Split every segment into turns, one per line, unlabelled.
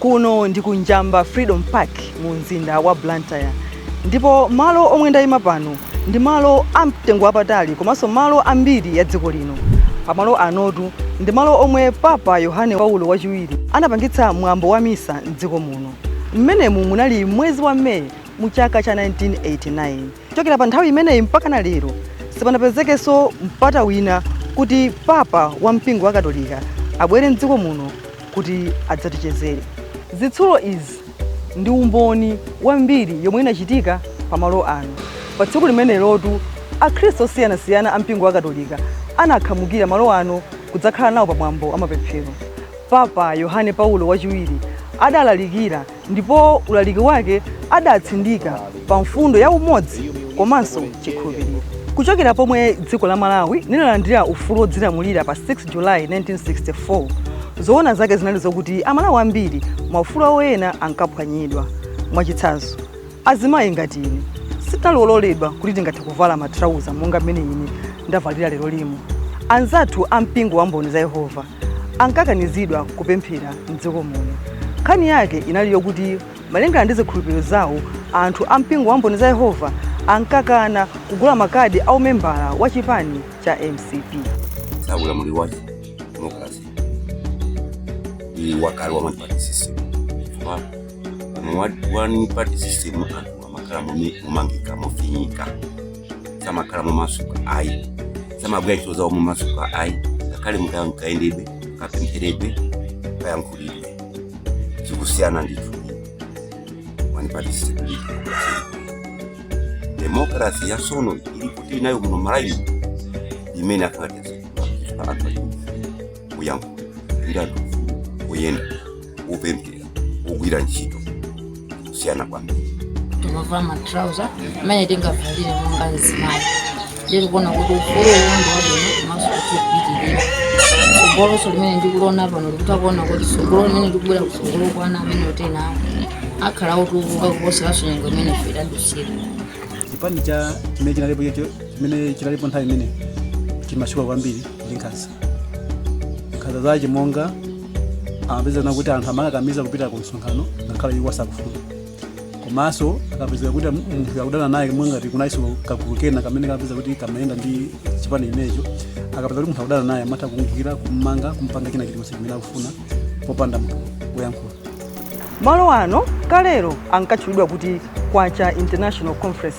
kuno ndi ku njamba freedom park mu mzinda wa blantyre ndipo malo omwe ndayima pano ndi malo amtengo wapatali komanso malo ambiri ya dziko lino pamalo anotu ndi malo omwe papa yohane paulo wachiwiri anapangitsa mwambo wa misa mdziko muno mmenemu munali mwezi wa meyi mu chaka cha 1989 chokera pa nthawi imeneyi mpaka na lero sipanapezekenso mpata wina kuti papa wa mpingo wa katolika abwere mdziko muno kuti adzatichezere zitsulo izi ndi umboni wa mbiri yomwe inachitika pa malo ano pa tsiku limenelotu akhristu osiyanasiyana a mpingo wa katolika anakhamukira malo ano kudzakhala nawo pa mwambo wa mapemphero papa yohane paulo wachiwiri adalalikira ndipo ulaliki wake adatsindika pa mfundo ya umodzi komanso chikhulupiriro kuchokera pomwe dziko la malawi linalandira ufulu wodzilamulira pa 6 julayi 1964 zoona zake zinali zokuti amalawi ambiri maufulu awo ena ankaphwanyidwa mwachitsanzo azimayi ngati ine sitinali ololedwa kuti tingathe kuvala matrauza monga mmene ine ndavalira lero lino anzathu a mpingo wa mboni za yehova ankakanizidwa kupemphera mdziko muno nkhani yake inali yokuti malingana ndi zikhulupiriro zawo anthu a mpingo wa mboni za yehova ankakana kugula makadi a umembala wa chipani cha mcp ulamuliro
wa demokalase ni wakale wa one party system mu one party system anthu amakhala momangika mofinyika samakhala momasuka ayi samagwira ntchito zawo momasuka ayi ngakhale mukaya mkayendebe kapempheredwe kayankhulidwe zikusiyana ndithu one party system demokalase ya sono ili kuti tili nayo muno malawi imene athu atezekwa anthu ali kuyankhula ndi anthu kuyenda kupemphera kugwira ntchito kusiyana kwambiri timavala
matrauza amene tingavalire monga azimayi ndiri kuona kuti ufulu uwu ndi wabwino komanso kuti upitirire tsogoloso limene ndikuliona pano ndikutha kuona kuti tsogolo limene likubwera kutsogolo kwa ana amene otsewawo akhala otukuka kuposeranso nyengo imene ife tidadusira chipani
cha chimene chinalipo chocho chimene chinalipo nthawi imene chimatchuka kwambiri ndi nkhanza nkhanza zache monga amapezeka kuti anthu amakakamiza kupita ku msonkhano ngakhale iwo asakufuna komanso akapezeka kuti munthu akudana naye ngati kunaiso kagulu kena kamene kamapezeka kuti kamayenda ndi chipani chimenecho akapezeka kuti munthu akudana naye amatha kumugwira kummanga kumpanga china chilichonse chimene akufuna popanda munthu woyankhula malo
ano kalero ankatchulidwa kuti kwacha international conference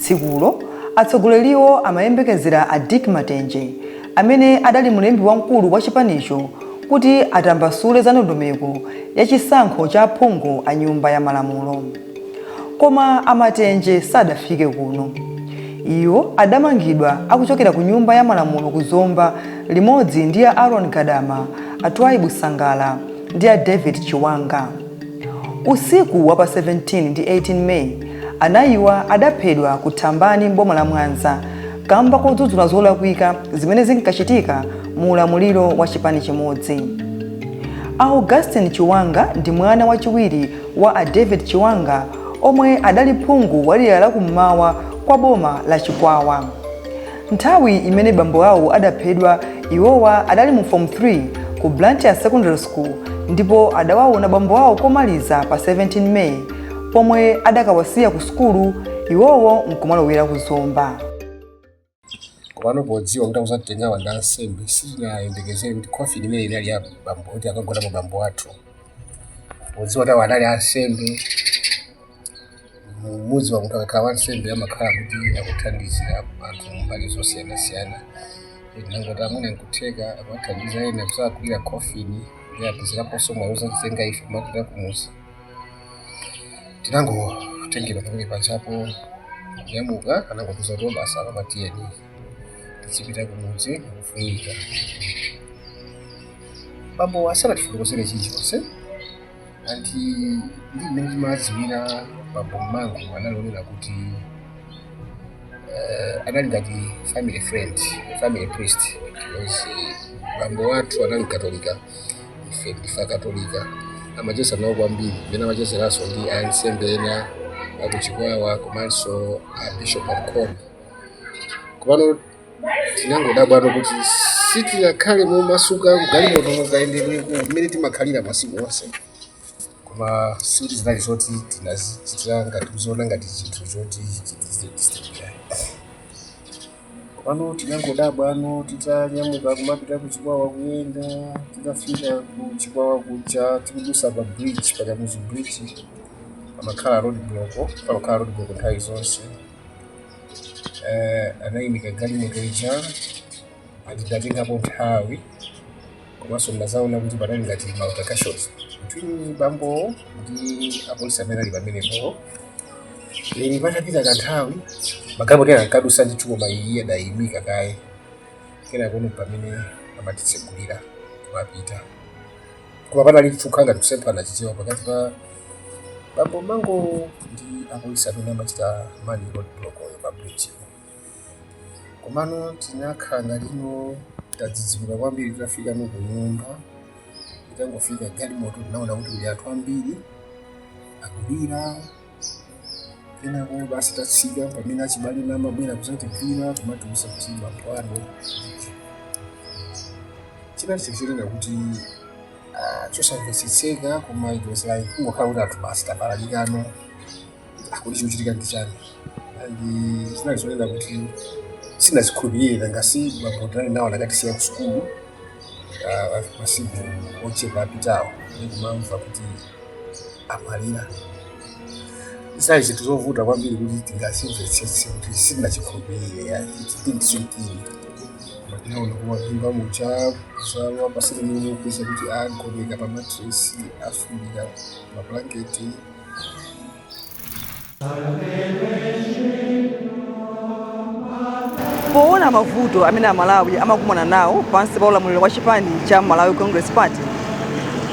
Tsikulo, atsogoleriwo amayembekezera a Dick Matenje, amene adali mlembi wamkulu wa chipanicho, kuti atambasule za ndondomeko ya chisankho cha aphungu a Nyumba ya Malamulo. Koma a Matenje sadafike kuno. Iwo adamangidwa akuchokera ku Nyumba ya Malamulo ku Zomba limodzi ndi a Aaron Gadama, a Twaibu Sangala ndi a David Chiwanga. Usiku wa pa 17 ndi 18 May, anayiwa adaphedwa ku Thambani m'boma la Mwanza kamba kodzudzula zolakwika zimene zinkachitika mu ulamuliro wa chipani chimodzi. A Augustine Chiwanga ndi mwana wachiwiri wa a David Chiwanga omwe adali phungu wa dera la kum'mawa kwa boma la Chikwawa. Nthawi imene bambo awo adaphedwa, iwowa adali mu Form 3 ku Blantyre Secondary School ndipo adawaona bambo awo komaliza pa 17 May pomwe adakawasiya ku sukulu iwowo nkumalowera ku
Zomba. kopano podziwa kuti akuzatitengawa ndi ansembe sitinayembekezere kuti coffin imene inali ya bambo kuti akagonamo bambo athu podziwa kuti awo anali ansembe mu- mudzi wa kuti akakhala wansembe amakhala kuti akuthandizira anthu mbali zosiyanasiyana ndangoti amene nkutheka amathandiza ena kusakulira khofini ndi apezeraponso mwawuzatitenga ife mmapita kumuzi tinangotengera pamene pachapo kunyamuka anangotiuza kuti basi ana tiyeni tizipita kumudzi kufunika bambo asanatifotokozere chilichonse anti ndi mmene timadziwira bambo Mangwa analinena kuti eh, anali ngati family friend family priest because eh, bambo wathu anali katolika ife ndife akatolika amacheza nawo kwambiri mmene amachezeranso ndi ansembe ena akuchikwawa komanso abishop a Mkhori kopano tinangodabwano kuti sitinakhale momasuka mgalimotomo kayendedwe ka mmene timakhalira masiku onse koma sikuti zinali zoti tinazichitira ngati kuziona ngati chinthu choti chizitidisiteba kopano tinangodabwano titanyamuka kumapita kuchikwawa kuyenda titafika kuchikwawa kuja tikudusa pa bridge pakamuzu bridge pamakhala road block pamakhala road block nthawi zonse eh, anayimika galimoto ija ndi anatengapo nthawi komanso ndinazaona kuti panali ngati ma altercations between bambowo ndi apolisi amene ali pamenepo then patapita kanthawi magalimoto ena ankadusa ndithu koma iye adayimika kaye kenako pamene amatitsegulira kumapita koma panali mpheka ngati kusemphana Chichewa pakati pa bambo Mango ndi apolisi amene amachita man road block pa bridgepo komano tinakhala ngati tadzidzimuka kwambiri titafikano kunyumba itangofika galimoto tinaona kuti kuli anthu ambiri akulira Kenako basi tatsika pamene achibale anamabwera kuzatigwira kumatiuza kuti bambo wanu chinatichitikira kuti ah, chosamvetsetseka koma it was like kungokhala kuti anthu basi tapalalikano akuti chikuchitika ndi chani and zinali zonena kuti sitinazikhulupirire nanga si bambo tinali nawo anakatisiya ku sukulu masiku ochepa apitawo ndikumamva kuti amwalira zali zinthu zovuta kwambiri kuti tingazimvetsetse kuti sitinachikhulupirire yayi it didn't sink in koma tinaona kulowa m'nyumba muja kukhala pa sitting room kupeza kuti agoneka pa matresi afundika mablanketi
Poona mavuto amene Amalawi amakumana nawo pansi pa ulamuliro wa chipani cha Malawi Congress Party,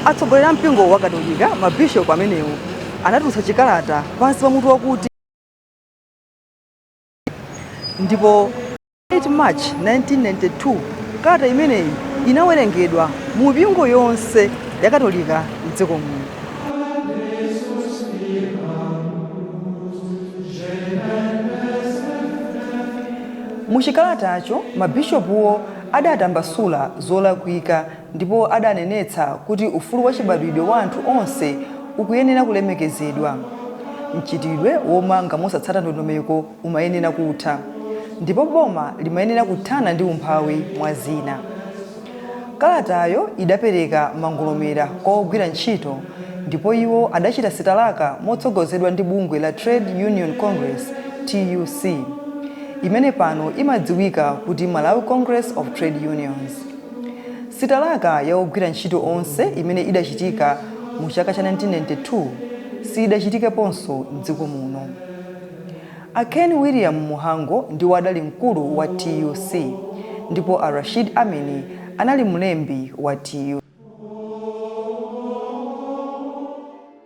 atsogoleri a mpingo wa Katolika, mabishopu amenewo anatulutsa chikalata pansi pa mutu wakuti, ndipo 8 March 1992 kalata imeneyi inawerengedwa mu mipingo yonse ya Katolika m'dziko muno. Muchikalatacho mabishopuwo adatambasula zolakwika ndipo adanenetsa kuti ufulu wachibadwidwe wa anthu onse ukuyenera kulemekezedwa. Mchitidwe womanga mosatsata ndondomeko umayenera kutha, ndipo boma limayenera kuthana ndi umphawi, mwa zina. Kalatayo idapereka mangolomera kwa ogwira ntchito, ndipo iwo adachita sitalaka motsogozedwa ndi bungwe la Trade Union Congress, TUC, imene pano imadziwika kuti Malawi Congress of Trade Unions. Sitalaka ya ogwira ntchito onse imene idachitika mu chaka cha 1992 siyidachitikeponso m'dziko muno. A Ken William Mhango ndiwo adali mkulu wa tuc ndipo a Rashid Amini anali mlembi wa tuc.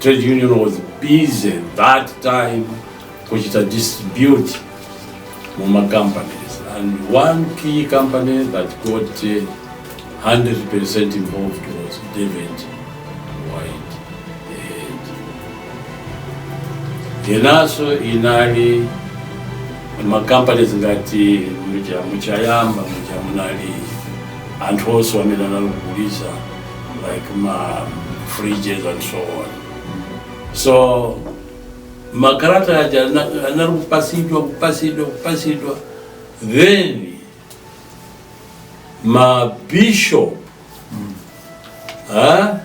Trade union was busy that time kuchita distribute mu ma companies and one key company that got uh, 100% involved was David White. Enanso anali ma companies ngati muja mwa Chayamba muja munali anthu onse amene anali kugulitsa like ma fridges and so on so makalata aja ana- anali kupasidwa kupasidwa kupasidwa then mabishop ah,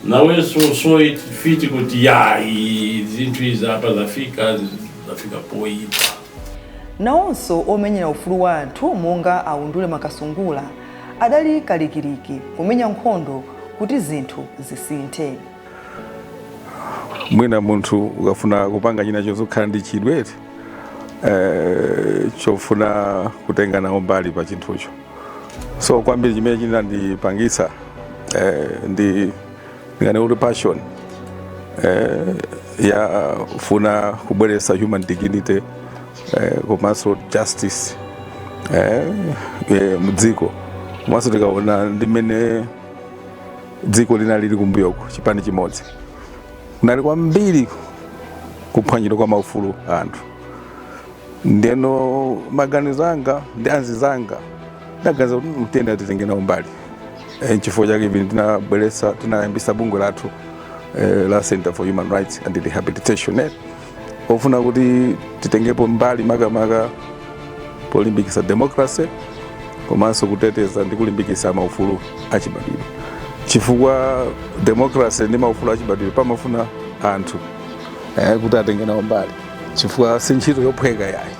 nawenso so it fit kuti ya i- zinthu izi apa zafika zafika poyipa
nawonso omenyera ufulu wa anthu monga aundule makasungula adali kalikiliki kumenya nkhondo kuti zinthu
zisinthe mwina munthu ukafuna kupanga china chozikhala ndi chidwi eh, chofuna kutenga nawo mbali pa chinthucho so kwambiri chimene chinandipangisa eh, ndi ndinganene kuti passion eh, yofuna kubweretsa human dignity eh, komanso justice eh, eh, mdziko komanso tikaona ndi mmene dziko linali lili kumbuyoko chipani chimodzi kunali kwambiri kuphwanyidwa kwa maufulu a anthu ndeno maganizo anga ndi anzizanga tinaganiza kuti tiyenera titenge nawo mbali e, nchifukwa chake ivi tinabweretsa tinayambisa bungwe lathu e, la center for human rights and rehabilitation eh, ofuna kuti titengepo mbali makamaka polimbikisa democracy komanso kuteteza ndi kulimbikisa maufulu achibadwidwe chifukwa democracy ndi maufulu achibadwidwe pamafuna anthu eh, kuti atenge nawo mbali chifukwa si ntchito yophweka yayi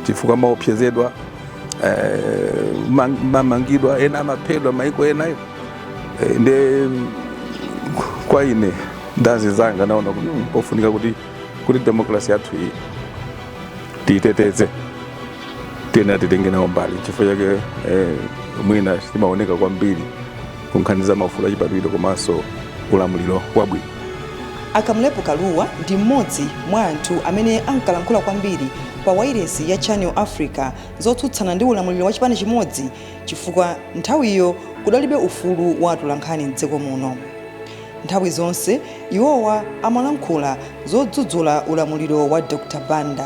chifukwa maopsezedwa eh, ma- mamangidwa ena amaphedwa maiko enayo Eh, nde kwa ine ndi anzanga tinaona kuti mm, pofunika kuti kuti demokrasi yathu iyi tiyiteteze tiyenera titenge nawo mbali chifukwa chake eh, mwina timaoneka kwambiri kunkhani za maufulu achibadwidwe komanso ulamuliro wabwino A Kamlepo
Kalua ndi m'modzi mwa anthu amene ankalankhula kwambiri pa wailesi ya Channel Africa zotsutsana ndi ulamuliro wa chipani chimodzi chifukwa nthawiyo kudalibe ufulu wa atolankhani m'dziko muno. Nthawi zonse iwowa amalankhula zodzudzula ulamuliro wa Dr Banda.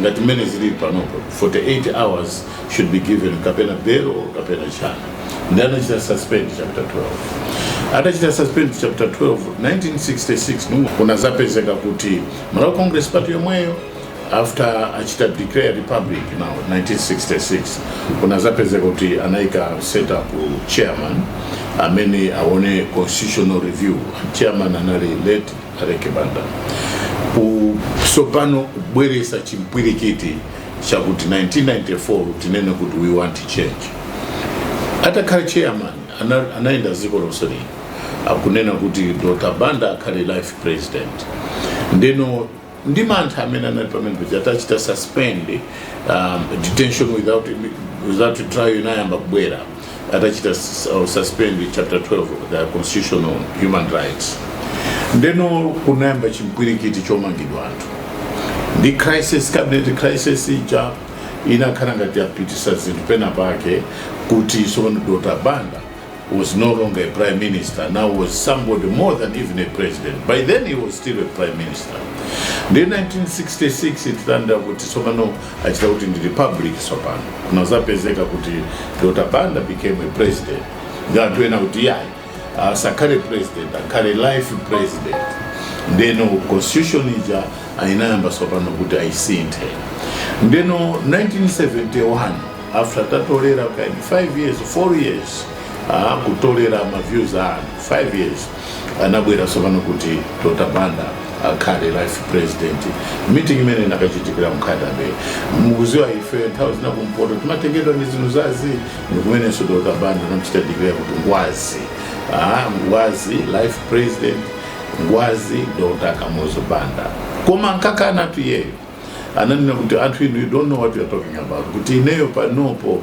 ngati mmene zilili panopo 48 hours should be given kapena bail or kapena china then anachita suspend chapter 12 atachita suspend chapter 12 1966 mu- kunazapezeka kuti malawi congress party yomweyo after achita declare republic now 1966 kunazapezeka kuti anayika set up chairman amene aone constitutional review chairman anali late Aleke Banda ku sopano kubweresa chimpwirikiti chakuti 1994 tinene kuti we want change atakhala chairman ana- anayenda dziko lonse lino akunena kuti dr banda akhale life president ndeno ndi m'nthawi imene anali pamene paja atachita suspend um, detention without, without trial inayamba kubwera atachita s- uh, suspend chapter 12 of the constitution on human rights ndeno kunayamba chimpwirikiti chomangidwa anthu the crisis cabinet crisis ija inakhala ngati yapitisa zinthu pena pake kuti tsopano dr banda was no longer a prime minister now was somebody more than even a president by then he was still a prime minister nde 1966 titanda kuti tsopano achita kuti ndi republic tsopano kunazapezeka kuti dr banda became a president ndi anthu ena kuti yayi asakhale president akhale life president ndeno constitution ija anayiyamba tsopano kuti ayisinthe ndeno 1971 after atatolera kaye 5 years 4 years ah, kutolera ma views a anthu 5 years anabwera tsopano kuti dr banda akhale life president meeting imene inakachitikira m'Nkhata Bay mukuziwa ife nthawi zina kumpoto timatengedwa ndi zinthu zazii ndikumenenso dr banda anamchita declare kuti ngwazi ah, ngwazi life president ngwazi dr kamuzu banda koma ankakanatu iyeyo ananena kuti anthu inu you don't know what you are talking about kuti ineyo panopo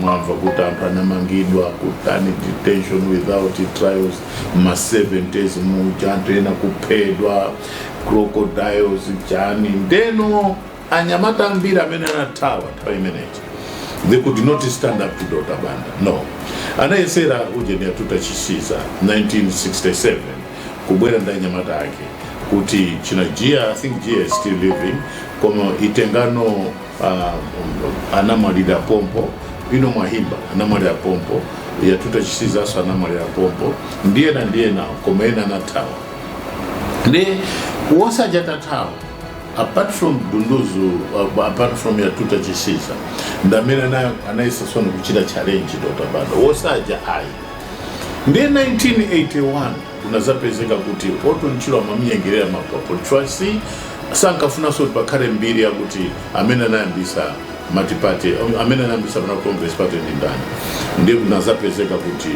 mwamva kuti anthu anamangidwa kutani detention without trials ma 70s muja anthu ena kuphedwa crocodiles chani ndeno anyamata ambiri amene anathawa nthawi imene ija they could not stand up to dr banda no anayesera ujeni Yatuta Chisiza 1967 kubwera ndi anyamata ake kuti china gia i think gia is still living koma itengano ah, anamwalira pompo ino mwahimba anamwalira pompo yatuta chisizaso anamwalira pompo ndi ena ndi ena koma ena anathawa ndi onse aja atathawa apart from dunduzu uh, apart from yatuta chisiza ndamene ana- anayesa zoona kuchita challenge dr banda onse aja ayi ndiye 1981 Kunadzapezeka kuti Orton Chirwa amamnyengerera Mapwapo chifukwa sankafunanso kuti pakhale mbiri yakuti amene anayambisa multiparty um, amene anayambisa Malawi congress party ndi ndani ndiye kunadzapezeka kuti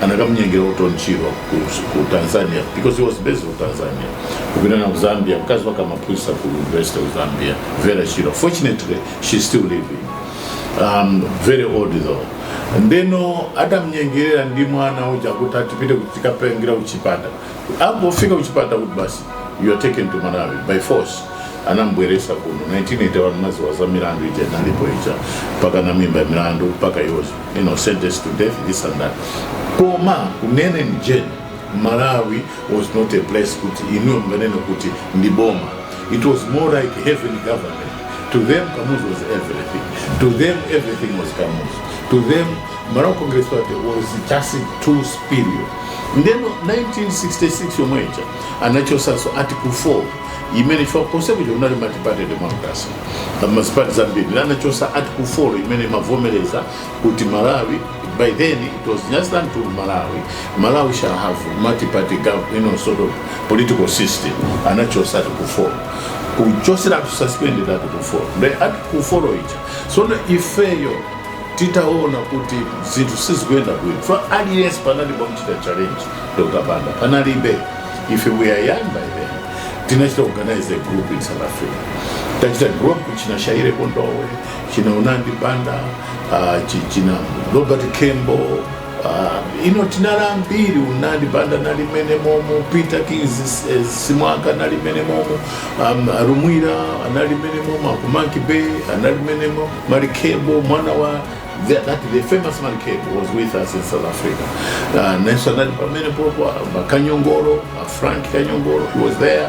anakamnyengerera Orton Chirwa ku, ku tanzania because he was based in tanzania kupita naye ku zambia mkazi wake amaphunzitsa ku university of zambia Vera Chirwa fortunately she's still living um, very old though ndeno adamnyengerera ndi mwana uja kuti atipite kuti tikapange kuchipatala atangofika kuchipatala kuti basi you are taken to malawi by force anambweresa kuno 1981 mudziwa za milandu ija inalipo ija mpakana anamuimba milandu mpaka he was you know, sentenced to death this and that koma kunena ujeni malawi was not a place kuti inuyo munganene kuti ndi boma It was more like heaven government. To them, Kamuzu was everything. To them, everything was Kamuzu. To them, Malawi Congress Party was just too superior. Ndeno 1966 yomwe ija anachotsanso article 4 imene ija constitution ija kunali multiparty democracy amazipati zambiri anachotsa article 4 imene imavomereza kuti Malawi by then it was just until Malawi Malawi shall have multi-party government, you know, sort of political system anachotsa article 4 kuchotseratu to suspend that article 4 the article 4 ija tsono ifeyo titaona kuti zinthu sizikuyenda bwino kwa aliyense panali wokachita challenge Dr. Banda panalibe ife we are young by then tinachita organize a group in South Africa tachita group achina shaire kondowe china unandi banda uh, chi- china robert kembo uh, ino tinali ambiri unandi banda nali mene momo peter kings eh, simwaka nali mene momo um, rumwira anali mene momo akumanki bay anali mene momo marikebo mwana wa the, that, the famous man Kate was with us in South Africa. Uh, Nelson Nadi Pamene Popo, uh, Kanyongoro, uh, Frank Kanyongoro, he was there,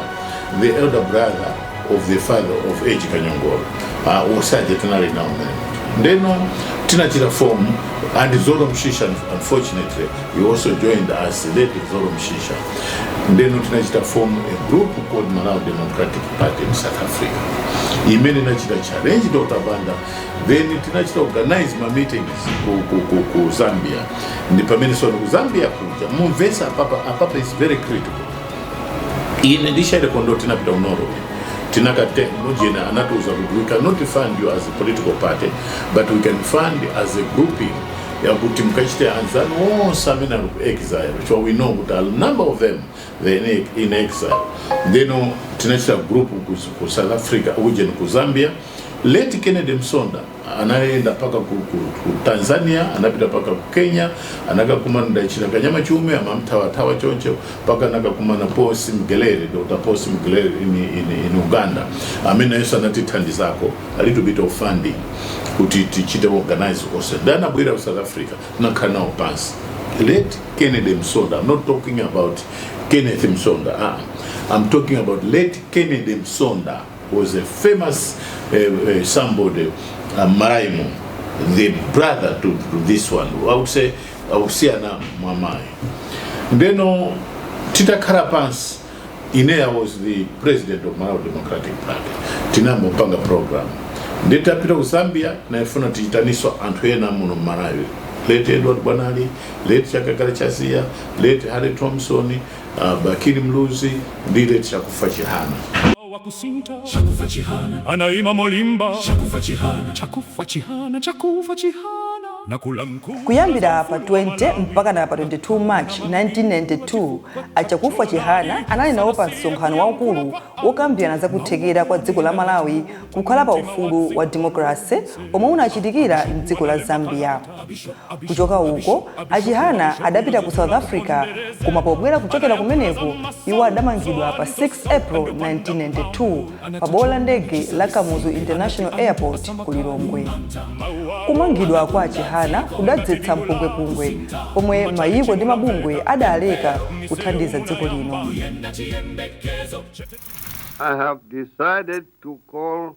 the elder brother of the father of Edge Kanyongolo uh, Osaje Tanari now then. Then um, Tinatira form and Zoro Mshisha unfortunately he also joined us late Zoro Mshisha. Then um, Tinatira form a group called Malawi Democratic Party in South Africa. Imene nachita challenge Dr. Banda then tinachita organize ma meetings ku, ku, ku, ku Zambia ndi pamene sono ku Zambia kuja mumvesa apapa apapa is very critical ine ndi Shaire Kondowe tinapita ku Norway tinakatenga ujeni anatiuza kuti we cannot fund you as a political party but we can fund you as a grouping yakuti mukachite anzanu onse amene ali ku exile chifukwa we know kuti a number of them they are in, in exile ndeno tinachita group ku, ku south africa ujeni ku zambia late kennedy msonda anayenda mpaka ku, ku, ku tanzania anapita mpaka ku kenya anakakumana ndi achina kanyama chiume amamthawathawa choncho mpaka anakakumana posi mgelere dr posi mgelere in, in, in uganda amene nayenso anatithandizako a little bit of funding kuti tichite organize onse ndi anabwera ku south africa tinakhala nawo pansi late kennedy msonda i'm not talking about kenneth msonda ah, i'm talking about late kennedy msonda was a famous uh, uh, somebody, uh, Maraimu, the brother to, to this one. I would say, I would say, na mamai. Then, uh, Tita Karapans, Inea was the president of Malawi Democratic Party. Tinambo panga program. Nditapita ku Zambia, naifuna tichitaniswa anthu ena muno Malawi. Late Edward Bwanali, late Chakakala Chasia, late Harry Thompson, Uh, Bakili Muluzi ndi late chakufa chihana
wakusinta chakufa chihana anaima molimba chakufa chihana chakufa chihana chakufa chihana nakula mkuu kuyambira pa 20
mpakana pa 22 march 1992 achakufa chihana anali nawo pa msonkhano waukulu wokambirana za kuthekera kwa dziko la malawi kukhala pa ufulu wa demokrase omwe unachitikira mdziko la zambia Kuchoka uko, a Chihana adapita ku South Africa koma pobwera kuchokera kumeneko, iwo adamangidwa pa 6 April 1992 pa bwalo la ndege la Kamuzu International Airport ku Lilongwe. Kumangidwa kwa a Chihana kudadzetsa mpungwepungwe pomwe mayiko ndi mabungwe adaleka kuthandiza dziko lino. I
have decided to call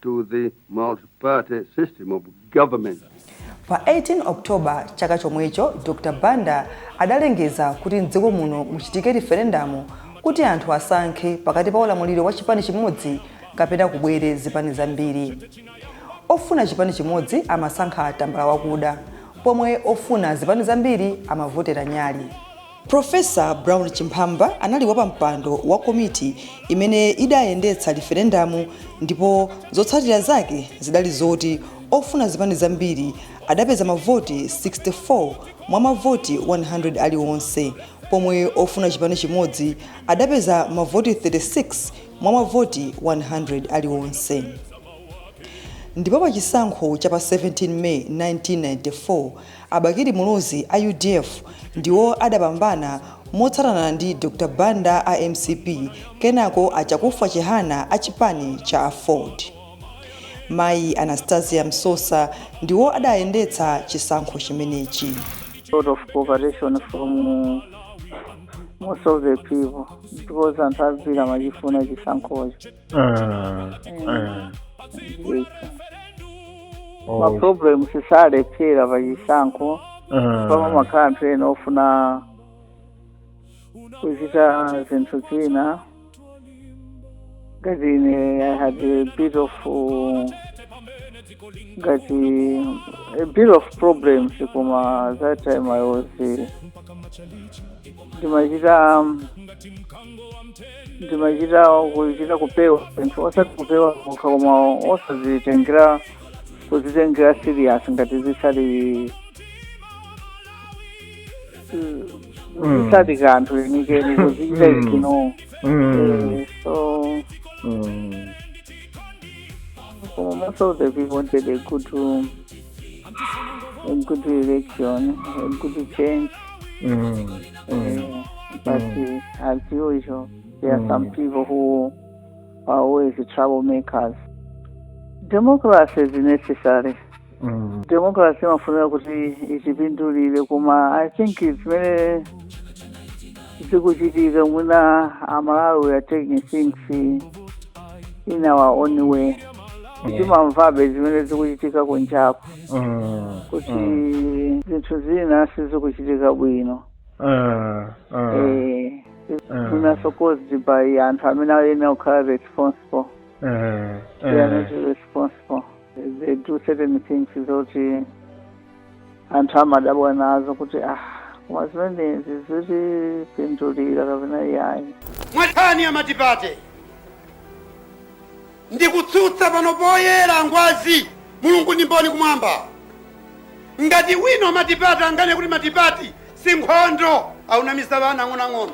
to the multi-party system of government. Pa 18
October chaka chomwecho, Dr Banda adalengeza kuti m'dziko muno muchitike riferendamu kuti anthu asankhe pakati pa ulamuliro wa chipani chimodzi kapena kubwere zipani zambiri. Ofuna chipani chimodzi amasankha tambala wakuda, pomwe ofuna zipani zambiri amavotera nyali. Profesa Brown Chimphamba anali wapampando wa komiti imene idayendetsa liferendamu ndipo zotsatira zake zidali zoti ofuna zipani zambiri adapeza mavoti 64 mwa mavoti 100 aliwonse pomwe ofuna chipani chimodzi adapeza mavoti 36 mwa mavoti 100 aliwonse. Ndipo pachisankho cha pa 17 May 1994, A Bakili Muluzi a udf ndiwo adapambana motsatana ndi Dr Banda a mcp kenako a Chakufwa Chihana a chipani cha aford. Mayi Anastasia Msosa ndiwo adayendetsa chisankho chimenechi. lot of
cooperation from most of the people because anthu ambiri amachifuna chisankhocho. maproblem salephera pa chisankho pamakhala anthu ena ofuna kuchita zinthu zina ngati ine i had a bit of uh, ngati a bit of problems koma that time i was uh, ndimachita ndimachita kupewa zinthu osati kupewa kokha koma osazitengera kuzitengera serious ngati zilizonse Mm. zisali kanthu lenikeni kuzichita Mm. ignore Mm. Eh, so Mm. koma most of the people wanted a good um, ekuti election ekuti change Mm. Mm. but Mm. uh, as usual there are some Mm. people who are always troublemakers democracy is necessary Mm. democracy imafunira kuti ichipindulire koma i think zimene zikuchitika mwina amalawi are taking things in our own way timamvabe zimene zikuchitika kunjaku Mm. kuti Mm. zinthu zina sizikuchitika bwino Mm. Mm. Eh, Mm. mwina supposed by anthu amene ayenera kukhala responsible Mm. they are Mm. not responsible they do certain things zoti anthu amadabwa nazo kuti ah koma zimenezi zitipindulira kapena yayi mwa nkhani ya
matipate ndikutsutsa pano poyera ngwazi mulungu ndi mboni kumwamba ngati wina wa matipate angakane kuti matipate si nkhondo akunamiza ana
ang'onoang'ono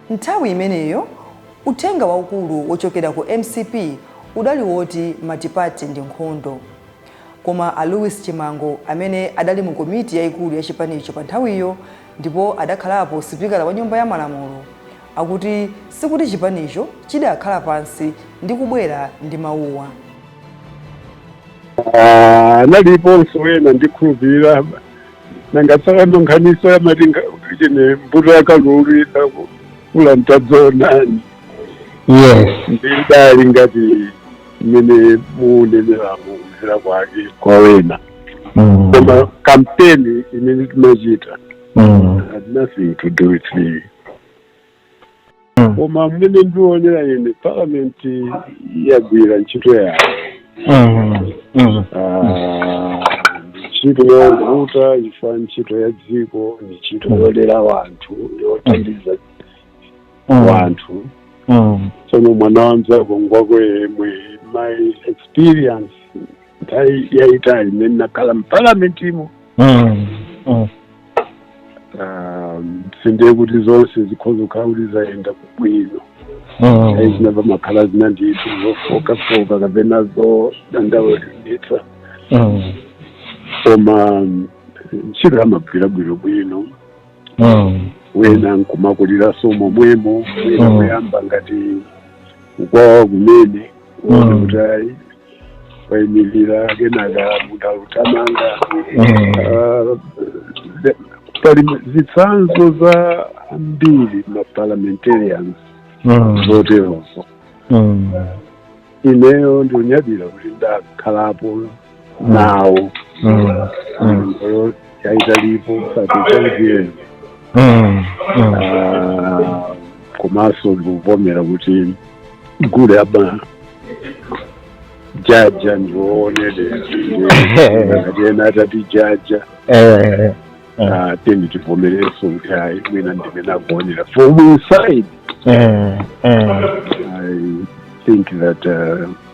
nthawi imeneyo Uthenga waukulu wochokera ku mcp udali woti multiparty ndi nkhondo. Koma a Louis Chimango amene adali mu komiti yaikulu ya chipanicho panthawiyo ndipo adakhalapo sipikala wa Nyumba ya Malamulo akuti sikuti chipanicho chidakhala pansi ndi kubwera ndi mawuwa.
Analiponso wena ndikhulupirira. nanga tsopano nkhanizo yamati chine mbuto ya kalulu idakula n'tadzaonani yes ndidali ngati mmene muunenera muuzira kwake kwa wena mm. koma kampeni imene timachita mm. had nothing to do with me koma mmene ndionera ine parliament yagwira ntchito yayo Ah, ntchito yovuta chifukwa ntchito ya dziko ni ntchito yolera wanthu yothandiza wanthu tsono mwana wa mzako ngwako yemwe my experience yayitali imene nakhala mpalamentimo Ah, sindiye kuti zonse zikhoza kukhala kuti zayenda kubwino ayi zina zimakhala zina ndithu zofookafooka kapena zodandaulitsa koma mm, ntchito amagwira bwinobwino wena nkumakuliranso momwemo wena Mm. kuyamba ngati ukwawa kumene kuona Mm. kuti ayi waimirira kenaka munthu akuthamanga Mm. Ah, the- pali zitsanzo zambiri maparliamentarians Mm. zoterozo Mm. ineyo ndiunyadira kuti ndakhalapo nawo Mm. Mm. Olo- yaitalipo satechaitiyeni Mm, mm. Ah, komanso ndikuvomera kuti gule amajaja ndi woonerera ngati ena atatijaja Eh, ah, tiyeni tivomerenso kuti ayi mwina ndi mmene akuonera from inside eh, eh. i think that uh,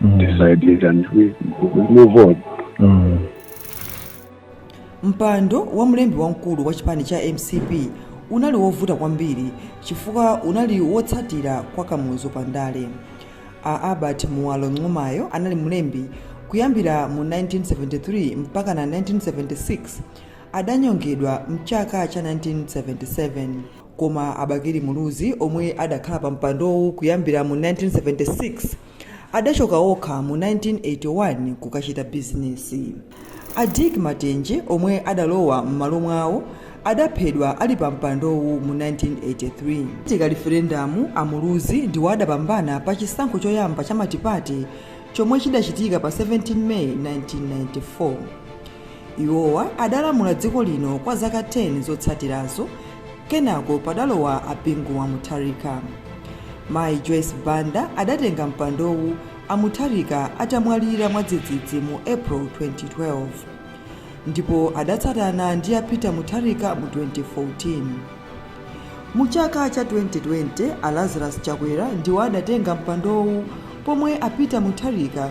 Mm. Decided and we, we move on.
Mm. mpando wa mlembi wamkulu wa chipani cha mcp unali wovuta kwambiri chifukwa unali wotsatira kwa kamuzu pa ndale a albert muwalo nqumayo anali mlembi kuyambira mu 1973 mpaka na 1976 adanyongedwa mchaka cha 1977 koma a bakili muluzi omwe adakhala pa mpandowu kuyambira mu 1976 Adachoka okha mu 1981 kukachita bizinesi. A Dick Matenje omwe adalowa mmalo mwawo adaphedwa ali pa mpandowu mu 1983. Itachitika liferendamu, a Muluzi ndiwo adapambana pa chisankho choyamba cha matipate chomwe chidachitika pa 17 May 1994. Iwowa adalamula dziko lino kwa zaka 10 zotsatirazo kenako padalowa a Bingu wa Mutharika. Mayi Joyce Banda adatenga mpandowu a Mutharika atamwalira mwadzidzidzi mu April 2012 ndipo adatsatana ndi a Peter Mutharika mu 2014. Mu chaka cha 2020, a Lazarus Chakwera ndiwo adatenga mpandowu pomwe a Peter Mutharika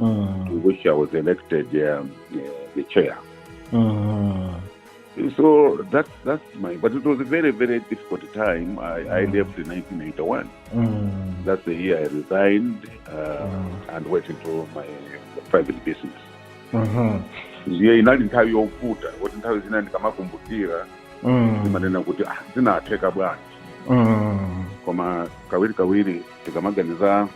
mm. to which I was elected um, uh, the chair. Mm. So that's that's my. But it was a very very difficult time. I, I mm. left in 1981. Mm. That's the year I resigned uh, mm. and went into my private business. Mm-hmm. ndiye inali nthawi yovuta kuti nthawi zina ndikamakumbukira mm. ndimanena kuti ah, zinatheka bwanji mm. koma kawirikawiri tikamaganiza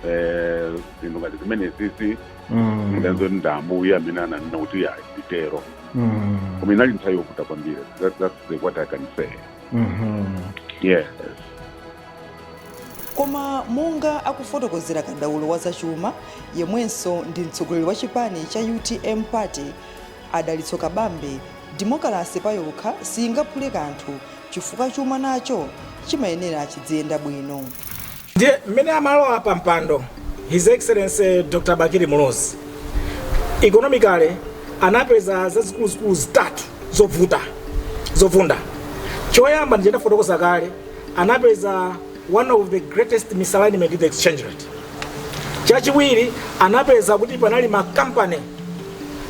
eh, zinthu ngati zimenezisi Mm. mudanzo ndi ambuye amene ananena kuti ayi nditero Mm. koma inali nthawi yovuta kwambiri That- that's the what i can say Mhm. yes
koma monga akufotokozera kadaulo wa zachuma yemwenso ndi mtsogoleri wa chipani cha utm party a dalitso kabambe demokalasi payokha siingaphule kanthu chifukwa chuma nacho chimayenera chiziyenda bwino Ndiye
mmene amalowa pa mpando His Excellency Dr. Bakili Muluzi economically anapeza zazikuluzikulu zitatu zovunda. Choyamba ndiye ndafotokoza kale, anapeza one of the greatest misalignment in the exchange rate. Chachiwiri anapeza kuti panali makampani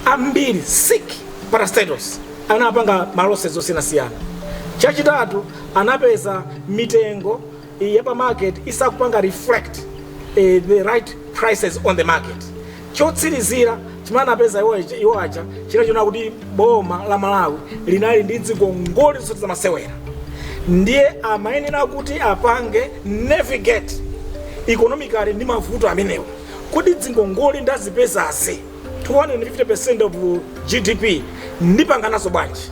ambiri sick parastatals anapanga malosses osiyanasiyana. Chachitatu anapeza mitengo ya pa market isakupanga reflect eh, the right prices on the market chotsirizira chimene anapeza iwo aja- iwo aja china chona kuti boma la malawi linali ndi dzingongole zosati zamasewera ndiye amayenera kuti apange navigate economically ndi mavuto amenewo kuti dzingongole ndazipezazi 250% of GDP ndipanganazo bwanji?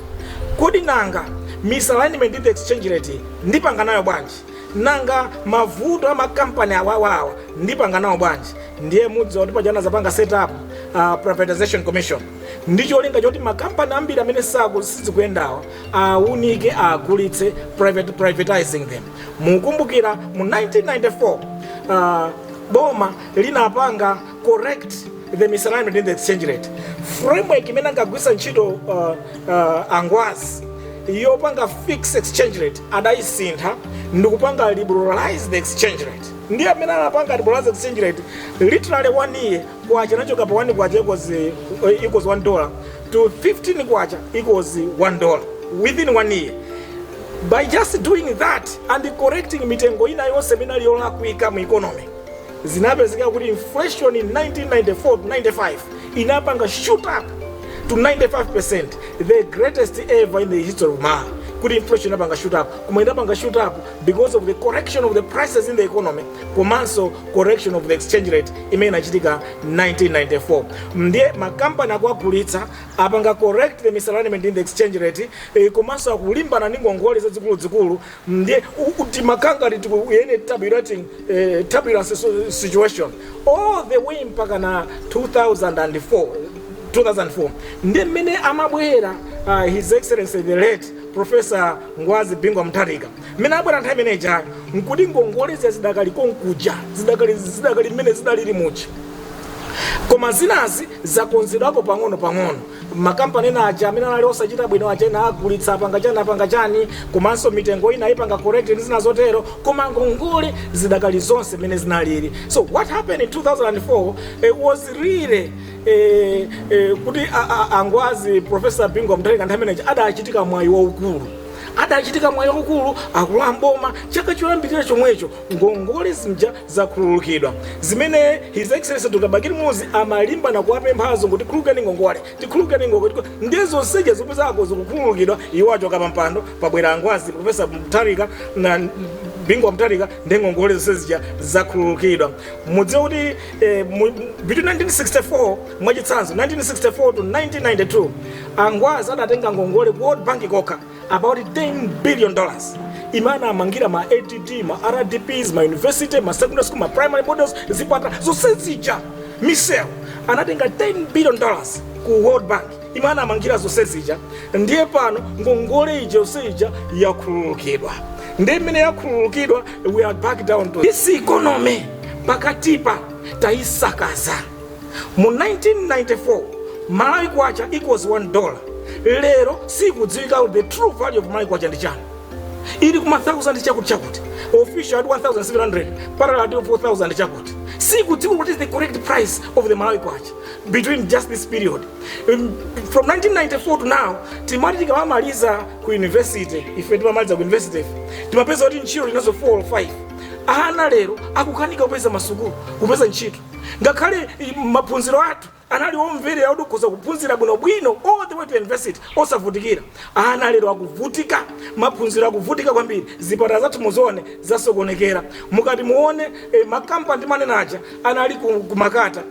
Kodi nanga misalignment in the exchange rate ndipanganayo bwanji? Nanga mavuto a makampani awawawa ndipanganawo bwanji? Ndiye mudziwa kuti paja anadzapanga set up uh, privatization commission ndi cholinga choti makampani ambiri amene sizikuyendawa aunike agulitse private privatizing them. Mukumbukira mu 1994 uh, boma linapanga correct the misalignment in the exchange rate framework imene ankagwiritsa ntchito uh, uh, angwazi yopanga fixed exchange rate adayisintha ndikupanga liberalize the exchange rate ndiye mmene anapanga liberalize exchange rate literally one year kwacha inachoka pa 1 kwacha equals, uh, equals 1 dollar to 15 kwacha equals 1 dollar within one year by just doing that and correcting mitengo ina yonse imene inali yolakwika mu economy Zinapezeka kuti inflation in 1994-95 inapanga shoot up to 95%, the greatest ever in the history of Malawi. Kuti inflation inapanga shoot up, koma inapanga shoot up because of the correction of the prices in the economy, komanso correction of the exchange rate imene inachitika 1994. Ndiye makampani akuwagulitsa apanga correct the misalignment in the exchange rate, eh, komanso akulimbana ndi ngongole zazikuluzikulu Ndiye timakangati tikuyenda mu turbulent eh, turbulent situ- situation all the way mpaka na 2004 2004 ndi mmene amabwera uh, his excellency the late professor ngwazi bingu wa mutharika mmene abwera nthawi imene ijayo nkuti ngongole zija zidakali konkuja zidakali zidakali mmene zidalili muja koma zinazi zakonzedwako pang'ono pang'ono makampani ena aja amene anali osachita bwino aja ena agulitsa apanga chani apanga chani komanso mitengo ina aipanga correct ndi zina zotero koma ngongole zidakali zonse mmene zinalili so what happened in 2004 eh, was really eh, eh, kuti a- a- angwazi professor bingu wa mutharika nthawi imene ija adachitika mwayi waukulu adachitika mwayi waukulu akulowa m'boma chaka choyambirira chomwecho ngongole zija zakhululukidwa. Zimene His Excellency Dr. Bakili Muluzi amalimbana kuwapempha azungu tikhululukireni ngongole, tikhululukireni ngongole, ndiye zonse zija zikupezeka zikukhululukidwa iwo achoka pa mpando pabwera angwazi, Professor Mutharika, a Bingu wa Mutharika ndi ngongole zonse zija zakhululukidwa. Mudziwe kuti eh, mu, between 1964 mwachitsanzo 1964 to 1992 angwazi adatenga ngongole ku World Bank kokha about 10 billion dollars imene anamangira ma add ma rdps ma university ma secondary school ma primary models zipatala zonse zija misewu anatenga 10 billion dollars ku world bank imene anamangira zonse zija ndiye pano ngongole ija yonse ija yakhululukidwa ndiye mmene yakhululukidwa we are back down to this economy pakatipa tayisakaza Mu 1994 Malawi Kwacha equals 1 dollar lero sikudziwika the true value of Malawi Kwacha ndi chani ili kuma 1000 chakuti chakuti official at 1700 parallel at 4000 chakuti sikudziwika what is the correct price of the Malawi Kwacha between just this period um, from 1994 to now timati tikamaliza ku university ife timamaliza ku university timapeza kuti ntchito uli nazo 4 or 5 ana lero akukanika kupeza masukulu kupeza ntchito Ngakhale maphunziro athu anali omveka kuti ukhoza kuphunzira bwinobwino all the way to university osavutikira, ana lero akuvutika, maphunziro akuvutika kwambiri, zipatala zathu muzione zasokonekera, mukati muone eh, makampani timanena aja anali ku, ku Makata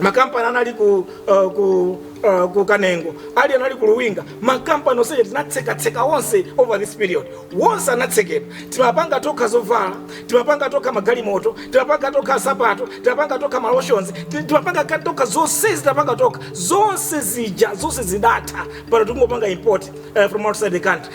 makampani anali ku, uh, ku, uh, ku Kanengo ali anali ku Luwinga makampani onse aja tinatsekatseka onse over this period onse anatsekedwa timapanga tokha zovala timapanga tokha magalimoto timapanga tokha nsapato timapanga tokha malotions ti- timapanga ka- tokha zonsezi timapanga tokha zonse zija zonse zidatha pano tikungopanga import uh, from outside the country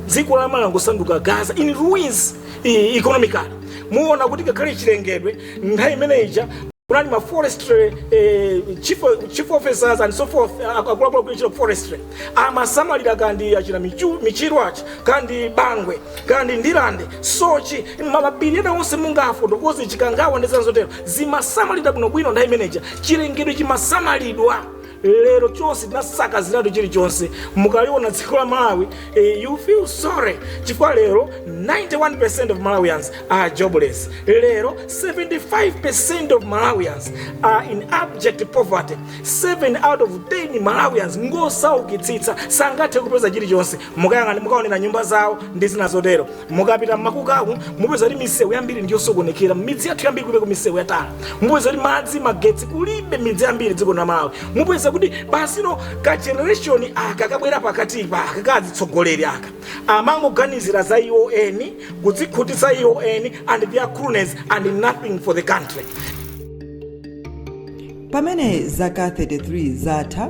dziko la Malawi langosanduka Gaza in ruins eh, economically muona kuti ngakhale chilengedwe nthawi imene ija kunali ma forestry eh, chief, chief officers and so forth eh, akuluakulu a ku forestry amasamalira kaya ndi achina Michu- Michiru, achi kaya ndi Bangwe kaya ndi Ndirande Soche mapiri onse mungafotokoze Chikangawa ndi zina zotero zimasamalira bwinobwino nthawi imene ija chilengedwe chimasamalidwa lero chonse tinasakaziratu chilichonse mukaliona dziko la Malawi eh, you feel sorry chifukwa lero 91% of Malawians are jobless lero 75% of Malawians are in abject poverty 7 out of 10 Malawians ngosaukitsitsa sangathe kupeza chilichonse mukayang'ana mukaonera nyumba zawo ndi zina zotero mukapita mmakukamu mupeza kuti misewu yambiri ndiyosokonekera mmidzi yathu yambiri kulibe ku misewu ya tala mupeza kuti madzi magetsi kulibe midzi yambiri dziko la Malawi mupeza kuti pano ka generation aka kabwera pakatipa aka ka atsogoleri aka amangoganizira za iwo eni kudzikhutitsa iwo eni and their cronies and nothing for the country
pamene zaka 33 zatha